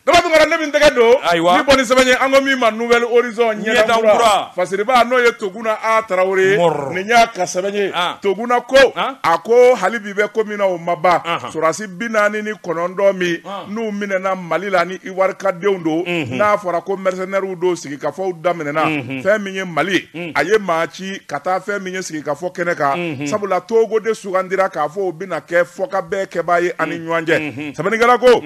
Daba Tunkara ne min tɛgɛ don ayiwa ni bɔnni sɛbɛn ye an ko min ma nouvel horizon ɲɛdan kura fasiribaa n'o ye toguna a tarawele nin y'a ka sɛbɛn ye toguna ko a ko hali bi bɛ ko min na o ma ban sorasi bi naani ni kɔnɔntɔn minnu minɛna mali la ni iwarika denw don n'a fɔra ko mercenairew don sigikafɔw daminɛna fɛn min ye mali ye a ye maa ci ka taa fɛn min ye sigikafɔ kɛnɛ kan mhm. sabula togo de sugandira k'a fɔ o bɛna kɛ fɔkabɛn kɛbaa ye ani mhm. ɲɔgɔn cɛ mhm. sɛbɛnnikɛla ko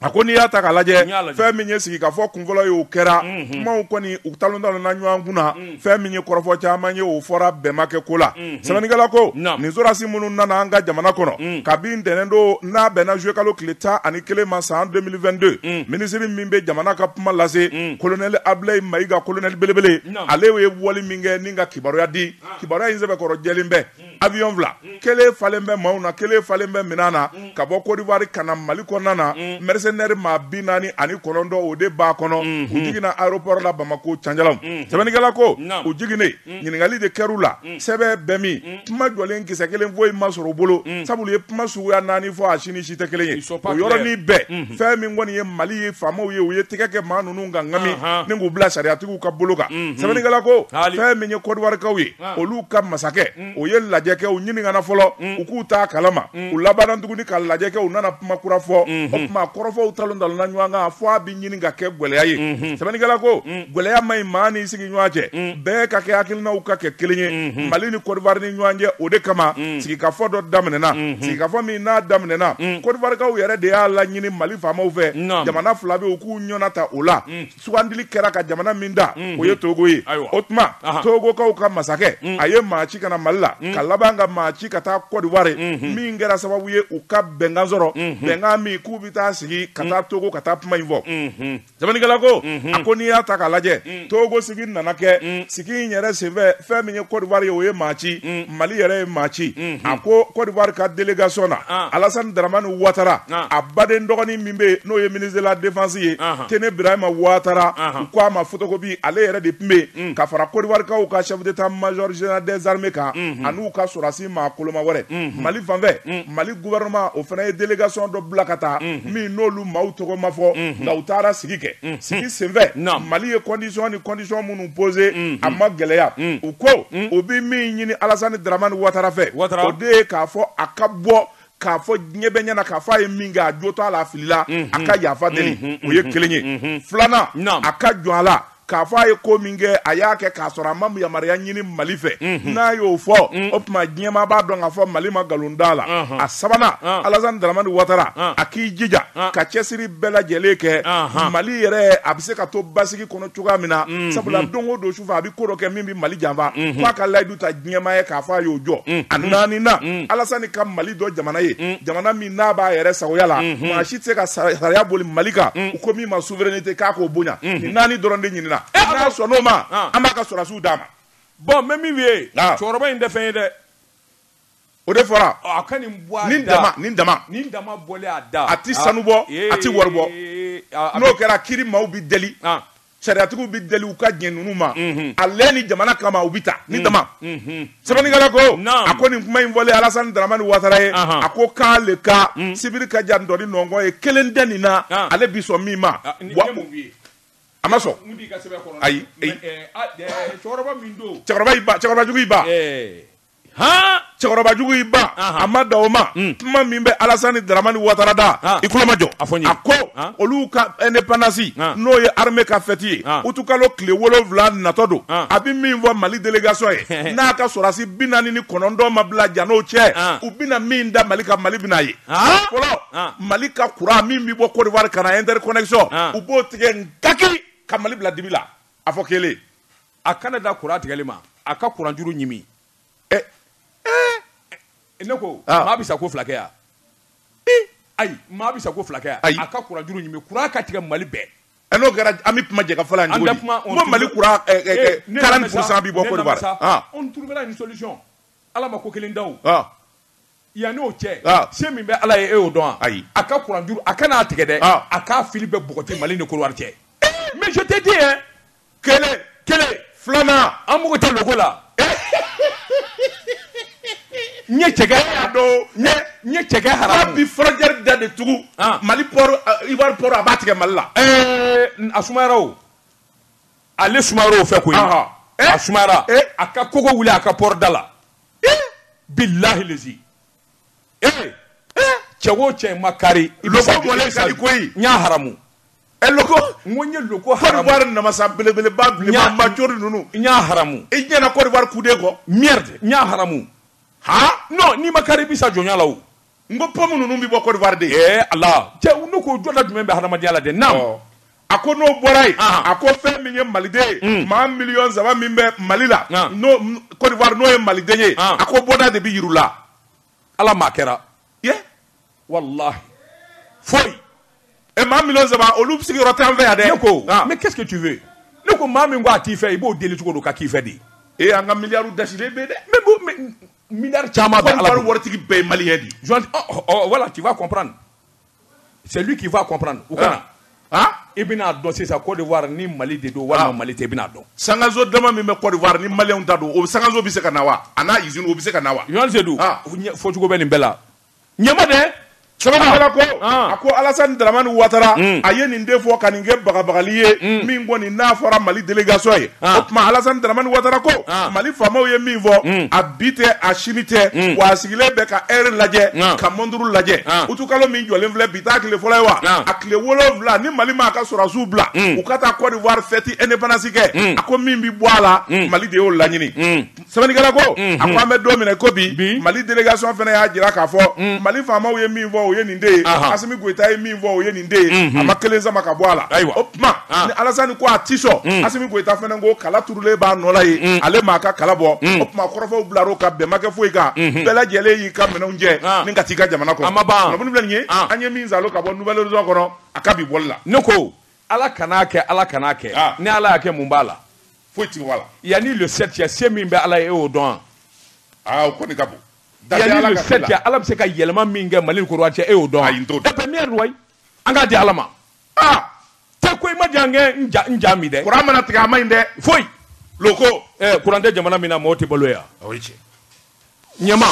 a ko n'i y'a ta k'a lajɛ fɛn min ye sigikafɔ kunfɔlɔ ye o kɛra kumaw kɔni u talon talonna ɲɔgɔn kun na fɛn min ye kɔrɔfɔ caman ye o fɔra bɛn ma kɛ ko la sɛbɛnnikɛla ko nin sorasi minnu nana an ka jamana kɔnɔ kabi ntɛnɛn don n'a bɛnna juillet kalo tile tan ani kelen ma san 2022 minisiri min bɛ jamana ka kuma lase kolonɛli abilayi mayiga kolonɛli belebele ale ye wali min kɛ nin ka kibaruya di kibaruya in sɛbɛkɔrɔ jɛlen bɛ avion fila kelen falen bɛ maaw na kelen falen bɛ minɛn na ka bɔ kɔdiwari ka na mali kɔnɔna na mercenaire maa bi naani ani kɔnɔntɔn o de b'a kɔnɔ k'u jiginna aéroport la bamakɔ can jalan sɛbɛnnikɛla ko u jiginnen ɲininkali de kɛr'u la mm. sɛbɛ bɛ min mm. kuma jɔlen kisɛ kelen foyi ma sɔrɔ u bolo mm. sabula u ye kuma suguya naani fɔ a si ni si tɛ kelen ye o yɔrɔnin bɛɛ mm-hmm. fɛn min kɔni ye mali ye faamaw ye u ye tɛgɛ kɛ maa ninnu kan ŋami uh-huh. ni k'u bila sariyatigiw ka bolo kan mm-hmm. sɛbɛnnikɛla ko fɛn min ye kɔdiwarikaw ye ah. olu ka masakɛ o ye lajɛ kɛ u ɲininkana fɔlɔ u k'u t'a kalama u labanna tuguni ka lajɛ kɛ u nana kuma kura fɔ o mm-hmm. tuma kɔrɔfɔw talon talonna ɲɔgɔn kan fɔ a bɛ ɲini ka kɛ gwɛlɛya ye sɛbɛnnikɛla ko gwɛlɛya man ɲi maa n'i sigi ɲɔgɔn cɛ bɛn ka kɛ hakilinaw ka kɛ kelen ye mali ni kɔdiwari ni ɲɔgɔn cɛ o de kama sigikafɔ dɔ daminɛna sigikafɔ min n'a daminɛna kɔdiwarikaw yɛrɛ de y'a laɲini mali faamaw fɛ jamana fila bɛɛ u k'u ɲɛna ta o la sugandili kɛra ka jamana min ta o ye togo ye o tuma togokaw ka masakɛ a ye maa ci ka na mali la ka laban ka maa ci ka taa kɔdiwari min kɛra sababu ye u ka bɛnkan sɔrɔ bɛnkan min k'u bɛ taa sigi ka taa togo ka taa kuma in fɔ Sɛbɛnnikɛla ko a ko n'i y'a ta k'a lajɛ Togo sigi nana kɛ sigi in yɛrɛ senfɛ fɛn min ye Côte d'Ivoire ye o ye maa ci Mali yɛrɛ ye maa ci a ko Côte d'Ivoire ka délégation na Alassane Dramane Ouattara a baden dɔgɔnin min bɛ yen n'o ye ministre de la défense ye Téné Birahima Ouattara u ko a ma photocopie ale yɛrɛ de tun bɛ yen ka fara Côte d'Ivoire kaw ka chef d'état major général des armées kan an'u ka sɔrɔdasi maa koloma wɛrɛ mhm. mali fanfɛ mhm. mali gouvernement o fana ye délégation dɔ bila ka taa mhm. min n'olu maaw tɔgɔ ma fɔ nka u taara sigi kɛ sigi senfɛ mali ye condition ni condition minnu posé a ma gɛlɛya u ko u bɛ min ɲini alasani daramani watara fɛ o de ye k'a fɔ a ka bɔ k'a fɔ diɲɛ bɛɛ ɲɛna k'a fɔ a ye min kɛ a jo t'a la a filila a mhm. ka yafa deli mhm, mhm, o ye kelen ye filanan a ka jɔn a la k'a fɔ a ye ko min kɛ a y'a kɛ k'a sɔrɔ a ma yamaruya ɲini mali fɛ n'a y'o fɔ o tuma diɲɛmaa b'a dɔn k'a fɔ mali ma nkalon d'a la a sabanan alasani daramani watara a k'i jija ka cɛsiri bɛɛ lajɛlen kɛ mali yɛrɛ a bɛ se ka to basigi kɔnɔ cogoya min na sabula don o don sufɛ a bɛ ko dɔ kɛ min bɛ mali janfa f'a ka layidu ta ɲɛmaa ye k'a fɔ a y'o jɔ mm. a naaninan mm. alasani ka mali dɔn jamana ye mm. jamana min n'a b'a yɛrɛ sagoya la mm-hmm. maa si tɛ se ka sariya boli mali kan u ko min ma souveraineté k'a k'o bonya mm-hmm. nin naani dɔrɔn de ɲinina eh, n'a sɔnn'o ma ah. an b'a ka sɔrɔdasiw d'a ma bon n bɛ min f'i ye ah. cɛkɔrɔba in tɛ fɛn ye dɛ O de fɔra a ka nin da a tɛ sanu bɔ a tɛ wari bɔ n'o kɛra kiiri maaw bɛ deli sariyatigiw bɛ deli u ka diɲɛ ninnu ma ale ni jamana kama u bɛ taa nin dama sɛbɛnnikɛla ko a ko nin kuma in fɔlen alasani daramani watara ye a ko k'ale ka sibiri ka jan dɔɔni nɔnkɔn ye kelen tɛ nin na ale bi sɔn min ma a ma sɔn ayi cɛkɔrɔbajugu cɛkɔrɔbajugu i ba a ma da o ma mm. kuma min bɛ alasani daramani watara da i kulo majɔ a ko olu ka indépendance n'o ye armée ka fɛti ye utikalo tile wolowula natɔ don a bɛ min fɔ mali délégation ye n'a ka sɔrɔdasi bi naani ni kɔnɔntɔn ma bila jan n'o cɛ u bɛna min da mali kan mali bɛna ye fɔlɔ mali ka kuran min bɛ bɔ Côte d'Ivoire ka na interconnexion u b'o tigɛ n kaki ka mali bila dibi la a fɔ kelen a kana da kuran tigɛli ma a ka kuran juru ɲimi ɛ ɛ ne ko ah. maa bɛ sa ko fila kɛ yan ayi maa bɛ sa ko fila kɛ yan ayi a ka kuran juru ɲimi kuran ka tigɛ mali bɛɛ ɛ n'o kɛra an bɛ kuma jɛ ka fɔ la yan cogo di n ko mali kuran quarante pour cent bɛ bɔ Côte d'Ivoire ah. on trouvera une solution ala ma ko kelen da o ah. Yan n'o cɛ se min bɛ ala ye e'o dɔn ayi a ka kuran a kana'a tigɛ dɛ a k'a fili bɛ npogoti mali ni kuluwa cɛ misi tɛ diɲɛ kelen kelen filanan an mugu tɛ dogo la n ye cɛ cɛ bi furajɛ da de tugun mali i wari a b'a tigɛ mali la a suma ale suma o fɛ ko a suma a ka kogo wuli a ka pda la billahi lazi ee cɛ o cɛ ma kari loko mɔlen koyi n y'a haramu ɛ loko n ko n ye loko haramu Côte d'Ivoire namasa belebeleba bilenba majori ninnu n y'a haramu i ɲɛna Côte d'Ivoire kuden ko merde n y'a haramu ha n'i ma kari i bi sa jɔnya la n ko pomu ninnu bɛ bɔ kodiwari de ye ala cɛ ne k'o jɔda jumɛn bɛ hadamadenya la de na a ko n'o bɔra yen a ko fɛn min ye maliden ye maa miliyɔn saba min bɛ mali la kodiwari n'o ye maliden ye a ko bɔda de bɛ yiri la ala maa kɛra ye wala foyi ɛ maa miliyɔn saba olu bɛ sigiyɔrɔ tan fɛ yan dɛ ne ko mais qu'est-ce que tu veux ne ko maa min ko a t'i fɛ i b'o deli cogo don ka k'i fɛ de e an ka miliyari dasi bɛ dɛ Miliyari caman waritigi bɛɛ ye malien de voilà tu vas comprendre c'est lui qui va comprendre u ka na i bɛna'a dɔn sisan kodiwari ni mali de don wala mali tɛ i bɛna'a dɔn sankanso dama min bɛ kodiwari ni malien ta don o sankanso bɛ se ka na wa a n'a izini o bɛ se ka na wa josi sedu a fɔcogo bɛ nin bɛɛ la ɲɛma dɛ sɛbɛnnikɛla ko ah. a ko alasani daramani watara hmm. a ye nin de fɔ ka nin kɛ bagabagali ye hmm. min kɔni n'a fɔra mali delegation ye ah. o tuma alasani daramani watara ko ah. mali faamaw ye min fɔ hmm. a bi tɛ a sini tɛ wa a sigilen bɛ ka ɛri lajɛ ka mɔnturu lajɛ utukalo min jɔlen filɛ bi taa tile fɔlɔ ye wa a tile wolonwula ni mali ma a ka sɔrɔdasiw bila u ka taa cote d'ivoire fɛti independance kɛ a ko min bɛ bɔ a la mali de y'o laɲini Sɛbɛnnikɛla ko, unhun, a ko an bɛ don min na i ko bi, bi, Mali délégation fana y'a jira k'a fɔ, un, Mali faamaw ye min fɔ o ye nin de ye, anhan, Asimi Goyita ye min fɔ o ye nin de ye, unhun, a ma kelen sama ka bɔ a la, ayiwa, o tuma, an, ni Alasani ko a tɛ sɔn, un, Asimi Goyita fana ko kala turulen b'a nɔ la yen, un, ale m'a ka kala bɔ, un, o tuma kɔrɔfɔw bilar'o kan bɛn ma kɛ foyi kan, unhun, bɛɛ lajɛlen y'i ka minɛnw cɛ, an, ni ka t'i ka jamana kɔnɔ, a ma ban, kunnafoni filɛ nin ye, an, an ye min salo ka bɔ Nouvel Horizon kɔnɔ a ka bi bɔli la. Ne ko Ala kan'a kɛ Ala kan'a kɛ, an, ni Ala y'a kɛ mun b'a la? foyi tɛ wala yanni le sept cɛ se min bɛ ala ye e y'o dɔn aa o kɔni ka bon yanni le sept cɛ ala bɛ se ka yɛlɛma min kɛ mali ni kodiwari cɛ e y'o dɔn ayi n t'o dɔn ɛpɛ miyɛri wayi an k'a di ala ma aa tɛ ko i ma jan kɛ n ja n ja mi dɛ kuran mana tigɛ a ma ɲi dɛ foyi loko ɛ kuran tɛ jamana min na mɔgɔ tɛ balo yan o ye tiɲɛ ɲɛma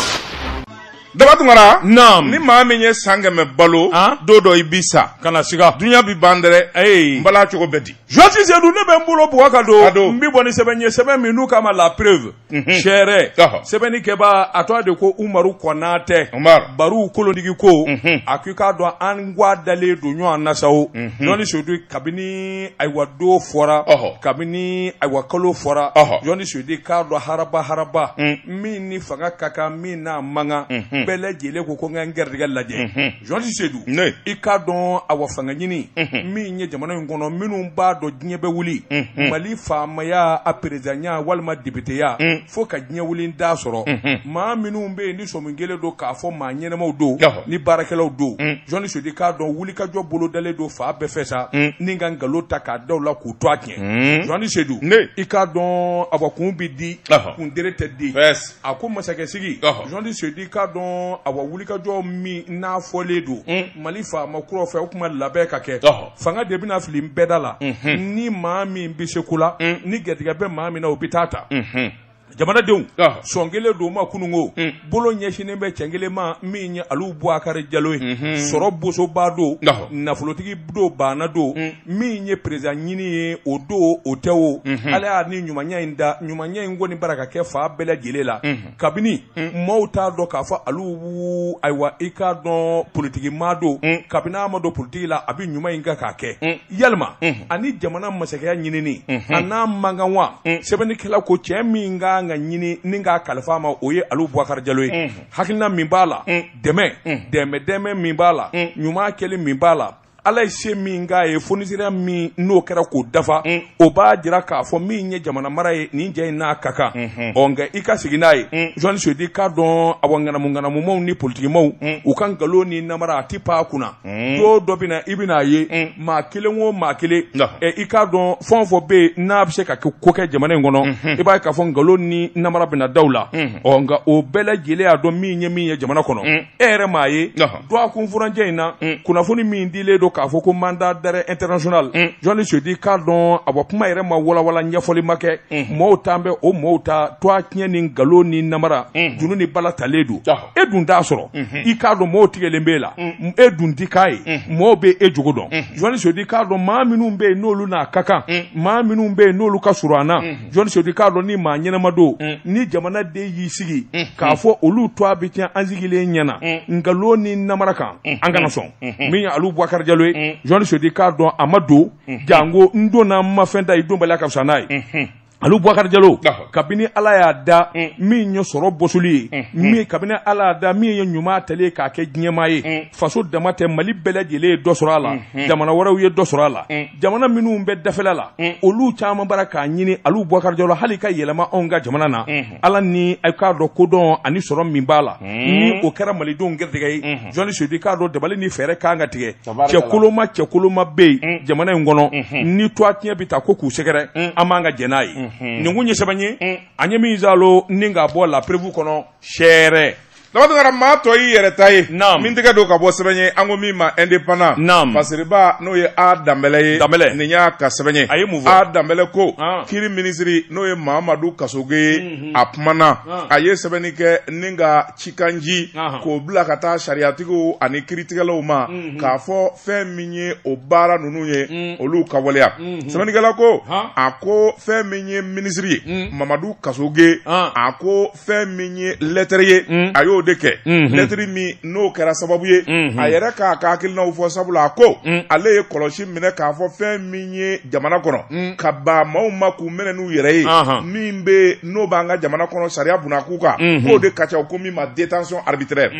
daba tunkara naam ni maa min ye san kɛmɛ balo ah? don dɔ i bi sa kana siga dunya bi ban dɛrɛ ayi n bala cogo bɛ di josi sedu ne bɛ n bolo bugɔ ka don n bi bɔ ni sɛbɛn ye sɛbɛn min n'u k'a ma la preuve mhm. seere sɛbɛnni kɛbaa a tɔgɔ de ko umaru kɔnatɛ baruw kolodigi ko mhm. a k'i k'a dɔn an gwa dalen don ɲɔgɔn na sa o mhm. jɔnni sedu kabini ayiwa don fɔra kabini ayiwa kalo fɔra jɔnni sedu k'a dɔn haraba haraba mm. min ni fanga ka kan min n'a man kan mm-hmm. bɛɛ lajɛlen ko ko n ka n gɛrɛdigɛ lajɛ mm-hmm. jɔnni sedu i k'a dɔn awa fanga ɲini mm-hmm. min ye jamana in kɔnɔ minnu b'a dɔn diɲɛ bɛ wuli mali faamaya a perezanya walima depiteya mm. fo ka diɲɛ wuli n t'a sɔrɔ maa minnu bɛ yen sɔmi kelen don k'a fɔ maa ɲɛnɛmaw don ni baarakɛlaw don journaliste i k'a dɔn wulikajɔ bolo dalen don fan bɛɛ fɛ sa ni ka nkalon ta k'a da u la k'u twa tiɲɛ journaliste i k'a dɔn awa kun bɛ di kuntere tɛ di a ko masakɛ sigi journaliste i k'a dɔn awa wulikajɔ min n'a fɔlen don mali faama kura fɛ o kuma labɛn ka kɛ fanga de bɛna fili nbɛda la ni maa min bɛ se ko la ni garijɛgɛ bɛ maa min na o bɛ t'a ta jamanadenw sɔn kelen don ma kununko hmm. bolo ɲɛsinnen bɛ cɛ kelen ma min ye alu bubakari jalo ye hmm. sɔrɔ bosoba don nafolotigi don baana don hmm. min ye président ɲini ye o don o tɛ o ala y'a ni ɲumanya in da ɲumanya in kɔni bara ka kɛ fan bɛɛ lajɛlen la kabini maaw t'a dɔn k'a fɔ alu ayiwa i k'a dɔn politigimaa don kabini a ma don politigi la a bɛ ɲuman in kan k'a kɛ yɛlɛma ani jamana masakɛya ɲinini an'a mankan wa sɛbɛnnikɛla ko cɛ min ka kan ka ɲini ni k'a kalifa ma o ye alu bubakari jalo ye hakilina min b'a la dɛmɛ dɛmɛ dɛmɛ min b'a la ɲuman kɛli min b'a la ala ye se min k'a ye fonisireya min n'o kɛra k'o dafa o b'a jira k'a fɔ min ye jamana mara ye nin cɛ in n'a ka kan ɔ nka i ka sigi n'a ye journaliste i k'a dɔn awa ŋanamuŋanamumaw ni politigimaw u ka nkalon ni namara a tɛ pan a kunna Mm. don dɔ bɛ na i bɛna a ye mm. maa kelen o maa kelen i k'a dɔn fɛn o fɛn bɛ yen n'a bɛ se ka ko kɛ jamana in kɔnɔ mm-hmm. i b'a ye k'a fɔ nkalon ni namara bɛna da u la mm-hmm. ɔ nka o bɛɛ lajɛlen y'a dɔn min ye min ye jamana kɔnɔ mm. e yɛrɛ m'a ye dɔgɔkun furancɛ in na kunnafoni min dilen don k'a fɔ ko mandat d'arrêt international journaliste i k'a dɔn a bɔ kuma yɛrɛ ma walawala ɲɛfɔli ma kɛ mɔɔw t'an bɛ o mɔɔw ta twa tiɲɛ ni nkalon ni namara junu ni bala talen don e dun t'a sɔrɔ i k'a dɔn mɔgɔw tigɛlen b'e la e dun ti k'a ye mɔgɔw bɛ e jogo dɔn journaliste i k'a dɔn maa minnu bɛ yen n'olu n'a ka kan maa minnu bɛ yen n'olu ka surun an na journaliste i k'a dɔn ni maa ɲɛnama don ni jamanaden y'i sigi k'a fɔ olu twa bɛ tiɲɛ an sigilen ɲɛna nkalon ni namara kan an kana sɔn min ye alu bubakari jalo ye journaliste i k'a dɔn a ma don janko n donna n ma fɛn ta i donbali ka fisa n'a ye Alu Bubakari Jalo kabini Ala y'a da mm. min ye sɔrɔ bɔsoli ye mm, mm. min kabini Ala y'a da min ye ɲuman tali ye k'a kɛ diɲɛmaa ye faso dama tɛ Mali bɛɛ lajɛlen ye dɔ sɔrɔ a la jamana wɛrɛw ye dɔ sɔrɔ a la jamana minnu bɛ dafɛla la olu caman bara k'a ɲini Alu Bubakari Jalo hali ka yɛlɛma anw ka jamana na Ala ni a k'a dɔn kodɔn ani sɔrɔ min b'a la ni o kɛra Malidenw gɛrijɛgɛ ye journaliste i k'a dɔn dabali ni fɛɛrɛ kan ka tigɛ cɛkoloma cɛkoloma bɛ yen mm. jamana in kɔnɔ mm-hmm. ni twa tiɲɛ bɛ taa ko k'u sɛgɛrɛ mm. an man kan ka jɛn n'a ye mm-hmm. nin kun ye sɛbɛn ye mm. an ye min zalo ni k'a bɔ La Preuve kɔnɔ sɛɛrɛ labatara maa tɔ y'i yɛrɛ ta ye min tɛgɛ don ka bɔ sɛbɛn ye an ko min ma indépendant fasiriba n'o ye a danbɛlɛ ye danbɛlɛ nin y'a ka sɛbɛn ye a ye mun fɔ a danbɛlɛ ko ah. kiri minisiri n'o ye mamadu kasoge ye mm-hmm. a kumana ah. a ye sɛbɛnni kɛ ni ka cikanji k'o bila ka taa sariyatigiw ani kiritigɛlaw ma mhm. k'a fɔ fɛn min ye o baara ninnu ye mhm. olu k'a waleya mhm. sɛbɛnnikɛla ko a ko fɛn min ye minisiri ye mamadu kasoge a ko fɛn min ye lɛtɛrɛ ye a y'o de kɛ lɛtiri min n'o kɛra sababu ye a yɛrɛ k'a ka hakilinaw fɔ sabula a ko ale ye kɔlɔsi minɛ k'a fɔ fɛn min ye jamana kɔnɔ ka baa maaw ma k'u minɛ n'u yɛrɛ ye min bɛ n'o b'an ka jamana kɔnɔ sariya bunakuu kan k'o de ka ca u ko min ma détention arbitraire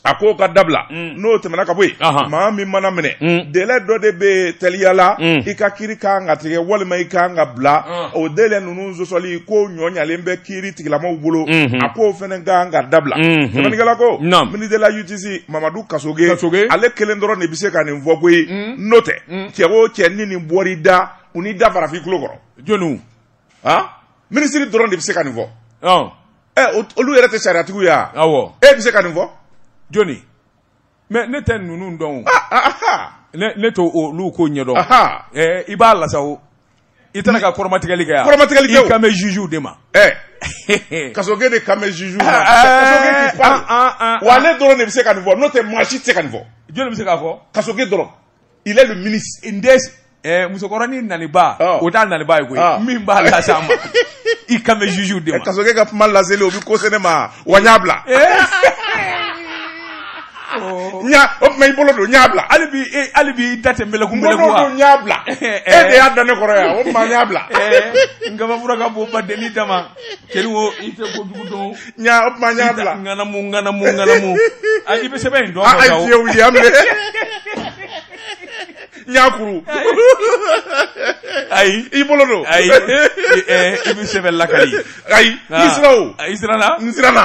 a k'o ka dabila n'o tɛmɛna ka bɔ yen maa min mana minɛ délai dɔ de bɛ teliya la i ka kiri ka kan ka tigɛ walima i ka kan ka bila o délai ninnu sɔsɔli ko nɔɔyalen bɛ kiri tigilamaw bolo a k'o fana ka kan ka dabila sɛbɛnnikɛla ko ministre de la justice mamadu kasoge ale kelen dɔrɔn de bɛ se ka nin fɔ koyi n'o tɛ cɛ o cɛ ni nin bɔr'i da u n'i da fara f'i tulo kɔrɔ jɔn han minisiri dɔrɔn de bɛ se ka nin fɔ ɔn ɛ o- olu yɛrɛ tɛ sariyatigiw ye wa awɔ e bɛ se ka nin fɔ joni mais ne tɛ ninnu dɔn o Ah, ah, aha ne ne t'olu ko ɲɛdɔn aha ɛɛ i b'a lase o i tɛna ka kɔrɔmatigɛli kɛ yan Kɔrɔmatigɛli kɛ o. i kan bɛ jugew de ma ɛ kasoge de kan bɛ jugew ma kasoge k'i pan wa ale dɔrɔn de bɛ se ka nin fɔ n'o tɛ maa si tɛ se ka nin fɔ jɔni bɛ se k'a fɔ kasoge dɔrɔn il est le ministre dɛ eh, musokɔrɔnin naniba oh. o t'a naniba ye koyi oh. min b'a lase a ma i kan bɛ jugew de ma eh, kasoge ka kuma laseli o bɛ ko se ne ma wa n y'a bila eh. oh. n y'a o tuma i bolo don n y'a bila hali bi e hali bi i da tɛ mɛlɛku mɛlɛku wa n y'a bila e de y'a da ne kɔrɔ yan o tuma n y'a bila n kabafura ka bon ba deli dama keri wo i tɛ ko jugu dɔn n y'a o tuma n y'a bila ŋanamu ŋanamu ŋanamu a i bɛ sɛbɛn in dɔn a ye fiyewu ye an bɛ n y'a kuru ayi i bolo don ayi i bɛ sɛbɛn lakali ayi i sira o i siranna n siranna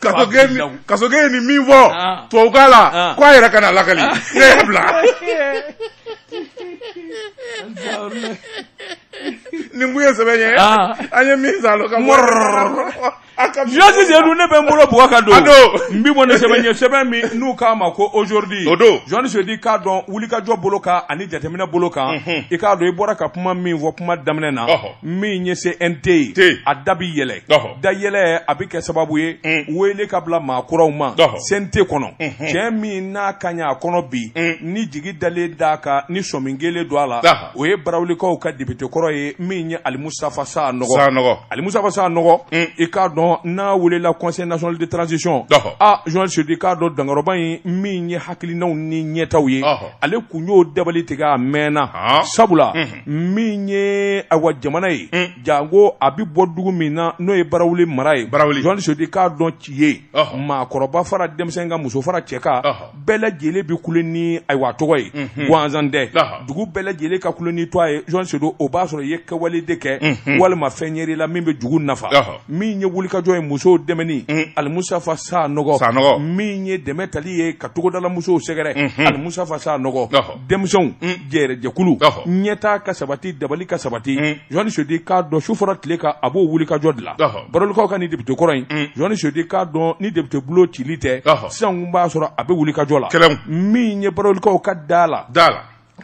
kasoge ye nin min fɔ ah. tubabukan la ah. ko a yɛrɛ kana lakali ah. ne y'a bila nin kun ye sɛbɛn ye an ye min sa lo ka Jɔsi de dun ne bɛ n bolo bugɔ ka don. A don. N bi bɔ ni sɛbɛn ye sɛbɛn min n'u k'a ma ko aujourd'hui. O don. journaliste i k'a dɔn wulikajɔ bolo kan ani jateminɛ bolo kan. I k'a dɔn i bɔra ka kuma min fɔ kuma daminɛ na. min ye CNT ye a da bɛ yɛlɛ da yɛlɛ a bɛ kɛ sababu ye mm. wele ka bila maa kuraw ma CNT kɔnɔ mm-hmm. cɛ min n'a ka ɲi a kɔnɔ bi mm. ni jigi dalen d'a kan ni sɔmi kɛlen don a la o ye barawulikaw ka député kɔrɔ ye min ye alimusafa sanɔgɔ alimusafa sanɔgɔ mm. i k'a dɔn n'a welela conseil national de transition a journaliste i k'a dɔn dankɔrɔba in min ye hakilinaw ni ɲɛtaw ye ale kun y'o dabali tigɛ a mɛnna sabula mm-hmm. min ye awa jamana ye janko a bɛ bɔ dugu min na n'o ye barawuli mara ye journaliste Seydou i k'a dɔn ci ye maakɔrɔba fara denmisɛn kan muso fara cɛ kan bɛɛ lajɛlen bɛ kule ni ayiwa tɔgɔ ye gansan tɛ dugu bɛɛ lajɛlen ka kule n'i tɔgɔ ye journaliste Seydou o b'a sɔrɔ i ye kɛwale de kɛ walima fɛn yɛrɛ la min bɛ dugu nafa min ye wulikajɔ ye musow dɛmɛni alimusafa sanɔgɔ min ye dɛmɛ tali ye ka togodalamusow sɛgɛrɛ alimusafa sanɔgɔ denmisɛnw yɛrɛ jɛkulu ɲɛtaa ka sabati dabali ka sabati journaliste Seydou i k'a dɔn su fara tile kan a b'o wulikajɔ de la barawulikaw ka ni député kɔrɔ in journaliste Seydou i k'a dɔn ni député bolo cili tɛ sisan b'a sɔrɔ a bɛ wulikajɔ la min ye barawulikaw ka da a la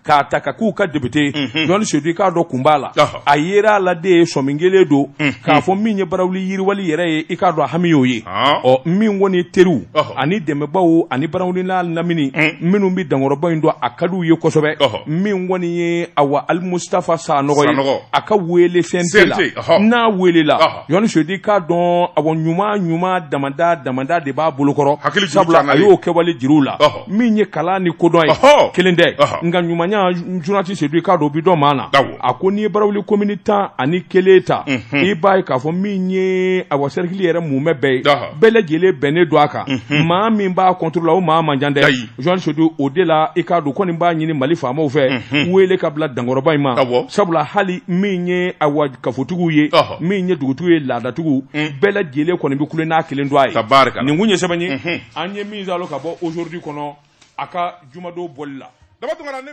k'a ta ka k'u ka député journaliste Seydou i k'a dɔn kun b'a la a yera a la de sɔmin kelen don k'a fɔ min ye barawuli yiriwali yɛrɛ ye i k'a dɔn hami y'o ye ɔ min kɔni teriw ani dɛmɛbaw ani barawuli n'a lamini minnu bɛ dankɔrɔba in dɔn a ka d'u ye kosɛbɛ min kɔni ye awa alimustafa sanɔgɔ ye a ka wele CNT la n'a welela journaliste Seydou i k'a dɔn awa ɲuman ɲuman damadɔ damadɔ de b'a bolokɔrɔ sabula a y'o kɛwale jir'u la min ye kalan ni kodɔn ye kelen tɛ nka ɲumanya journaliste Seydou i k'a dɔn o bɛ dɔn maa na a ko n'i ye barawuli commune tan ani kelen ta mhm. i b'a ye k'a fɔ min ye awa cercle yɛrɛ mumɛ bɛɛ ye bɛɛ lajɛlen bɛnnen don a kan mhm. maa min b'a contre la o maa man ca dɛ journaliste Seydou o de la i k'a dɔn kɔni b'a ɲini Mali faamaw fɛ mhm. wele ka bila dankɔrɔba in ma sabula hali min ye awa kafotigiw ye min ye dugutigiw ye laadatigiw mm. bɛɛ lajɛlen kɔni bɛ kule n'a kelen don a ye nin kun ye sɛbɛn ye an ye min zalo ka bɔ aujourd'hui kɔnɔ a ka jumadon bɔli la daba tunkara ne